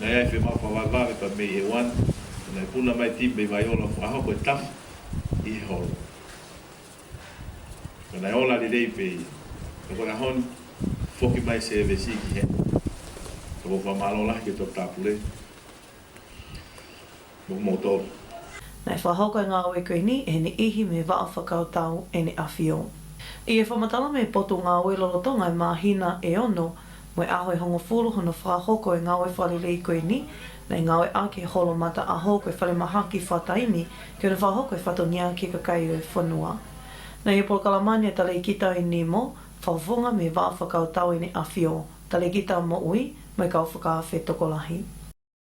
Nei ai whe mapa wai mawe pa mei he one Te nei puna mai ti mei wai ola ko aho koe taf i he holo Ko nei ola li rei pe ia Ko koe ahon foki mai se ve si ki he Ko koe wha malo lahi ke to tapure Mo mo tonu. Nei wha hau kai nga we kui ni e ni ihi me va a whakau tau e ni awhi o. I e wha matala me poto nga we lolo to ngai ma hina e ono, moe aho e hongo fulu hono wha hoko e nga we wha lili i kui ni, nei nga we a ke holo mata a hou koe wha le maha ki wha taimi, ke ono wha hoko e wha to nia ki ka kai o e whanua. Nei e polokala mani a tale i ki tau i ni mo, wha hofonga me va a whakau tau e ni awhi o, tale ki tau mo ui, moe ka o whakaawhe tokolahi.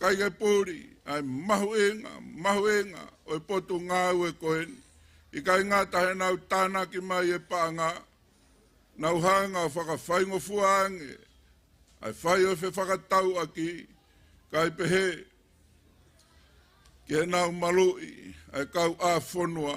Kaikai pouri, ai mahuenga, mahuenga, oi potu nga au e kohen, i kai ngatahe nau tanaki mai e paanga, nau hanga whakawhaingofua ange, ai whai oi whe whakatau aki, kai pehe, kia nau malui, ai kau a fonua.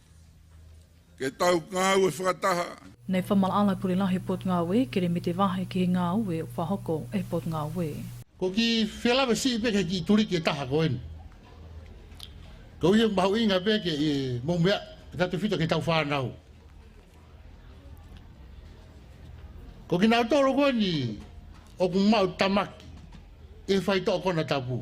Ke tau ngau e whakataha. Nei whama ala kore la he pot ngawe kere me te vahe ki he ngawe wha hoko e pot ngawe. Ko ki whela we si peke ki turi ke taha ko eni. Ko iho mahu inga peke e mo mea ke tatu fito ke tau wha nau. Ko ki nau toro ko eni o ku mau tamaki e whai to kona tapu.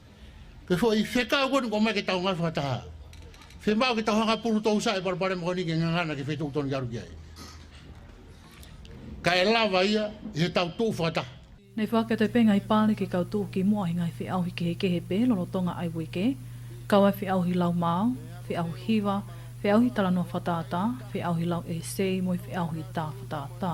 Ke fo i feka wan ko mai ke tau ngai fata. Fe mau ke tau hanga puru tau sai par pare moni ke nganga na ke fe tau ton garu kia. Ka e lava ia he tau tu fata. Nei whake te penga i pāreke kau tōki mo ahi ngai whi aohi kehe kehe pē lolo tonga ai weke, kau ai whi aohi lau māo, whi aohi hiwa, whi aohi tala noa whataata, whi aohi lau e sei mo i whi aohi tā whataata.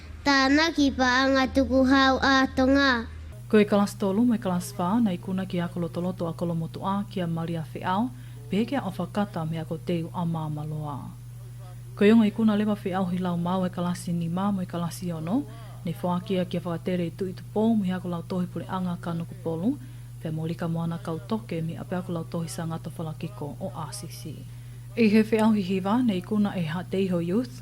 Tāna ki Paanga Tuku Hau Ātonga. Ko e Class Tolu me Class Wha nei kuna ki a Kolotoloto a Kolomotu a ki a Maria Wheao, Peheke a Awha Kata me a Ko Teu a Māmaloa. Ko Eonga i kuna lewa Wheao hi lau māu e Kalasi ni mā mo e Kalasi ono, nei whākia kia whakatere i tu i tu pō mo he ako lau tohi pure anga ka nuku polu, pea mo Rika Moana Kau Toke me ape ako lau tohi sa ngata whalakiko o RCC. I he Wheao hi hiva nei kuna e ha Te Iho Youth,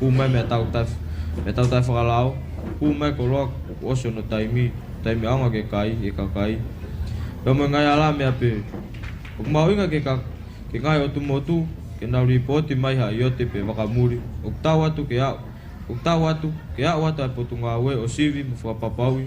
Hūmai mea takutai, mea takutai whakarao, hūmai ko roa ko Osio no Taimi, Taimi aonga ke kai, e ka kai. He omo e ngai a la me ape, o ku maoinga ke ka, ke ngai o tu motu, ke na ri po ti maiha i ote pe whakamuri, o ku tau atu ke au, o ku tau atu, ke au atu ai po tu ngaue o Sivi mo whakapapaui,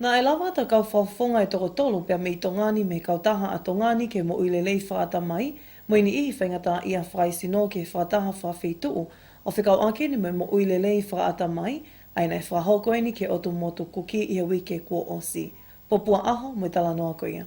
Na e lawa ata kau whawhonga e toko tolo pea me i tongani me kau taha a tongani ke mo uile lei wha ata mai, mo ini ihi whainga ta ia wha i sino ke wha taha wha whi tuu, o whekau ake ni me mo uile lei wha ata mai, aina e wha hoko ini ke oto mo to kuki ia wike kua osi. Popua aho, mo tala noa ko ia.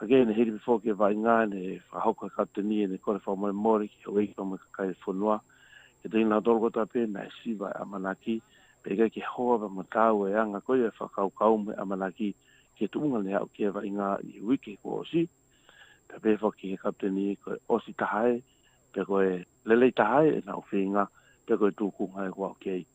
Ka kei ene he ripi fōke wha inga ene he whakahauka ka te ni ene kore wha mai mōre ki he wei ka mai ka kai e whonua. Ke te inga toro kota pē na he siwa e amanaki, pē kai ke hoa wha ma tāua e anga koia e whakau ka umu he amanaki ki he tuunga ne hau kē wha inga i he wiki kua osi. Pea pē wha ki he ka te ni koe osi tahae, pea koe lelei tahae e nau whi inga, pea koe tūkunga e wha kei.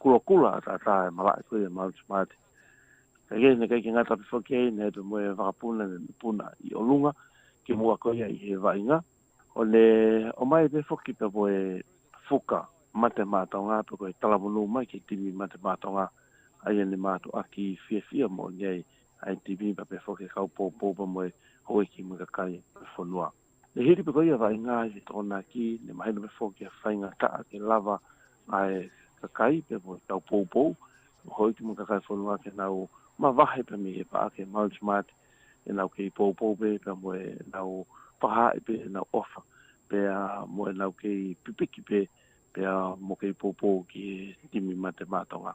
Kua kura a Tata e marae koe e Mount Martin. Kei kei nei kei ki Ngāi Tawhiwha kei nei he moe e whakapuna nei me puna i o runga ki mua ko ia i he wainga o ne o mai te whoki pe moe whuka mate mātonga pe koe talamunu mai ki timi mate mātonga ai ane mātu aki i fia fia mo nei ai timi ma pe whoke kaupōpō pa moe hoi ki muka kai pe whonua. Ne he ripe koia vai nga i to na ki ne mai no me fo ki a fai nga ka ke lava ai ka kai pe po tau po po mo hoi ki mo ka kai fo no ke na o ma va he pe mi he pa ke mau smart e na ke po po pe pe mo e na o pa ha e pe na o fa pe a mo e na ke pipiki pe pe a mo ke po po ki ti mi ma te ma tonga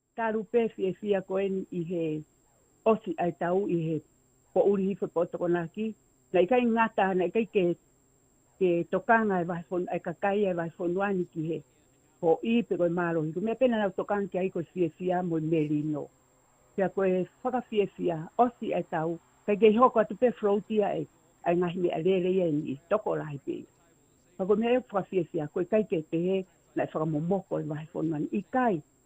Ka rupe fi e fi a koe ni i he osi ai tau i he po uri hi fo po tokona ki na i kai ngata na i kai ke ke tokanga e vai fonu ai ka kai e vai fonu ani ki he po i pe koe maro i me pena na tokanga ki ai koe fi e fi a mo meri no ki a koe faka fi e fi a osi ai tau kai ke hoko atu pe frouti ai ai nga hine a rere i ni toko la i pe Ka koe mea e faka fi e fi a koe kai ke te he na i faka mo moko e vai fonu ani i kai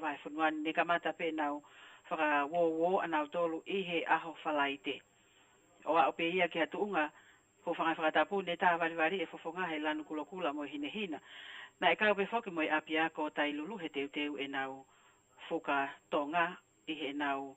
Vai whenua ne kamata pe nau whaka wo wo anau tolu i he aho whala i te. O a ope ia ki a tuunga, ko whangai whakatapu ne ta wari wari e fofonga hei lanu kula kula mo hine hina. Na e kaupe foki mo e apia ko tai lulu he teu teu e nau fuka tonga i he nau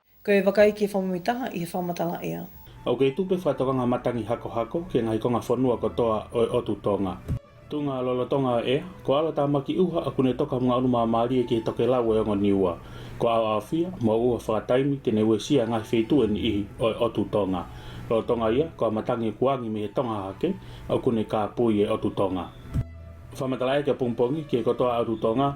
Ko e whakaeke whamui taha i he whamatala ea. Ok tupe wha tokanga matangi hakohako ke nga hikonga whanua ko toa oe otu to nga. Tunga lolotonga ea, ko ala tamaki uha a kune toka mga onuma marie ki he tokelau we ongo niua. Ko ao ao fia, mo uha whakataimi tene we sia ngahi fei tueni ihi oe otu to nga. Lolotonga ia, ko a matangi o kuangi me he tonga hake, o kune ka pui e otu to nga. Whamatala ea kia pongpongi, ke ko toa otu to nga.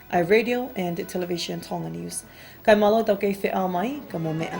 I radio and television Tonga news. Kai malo tau kei wheaa mai, ka momea.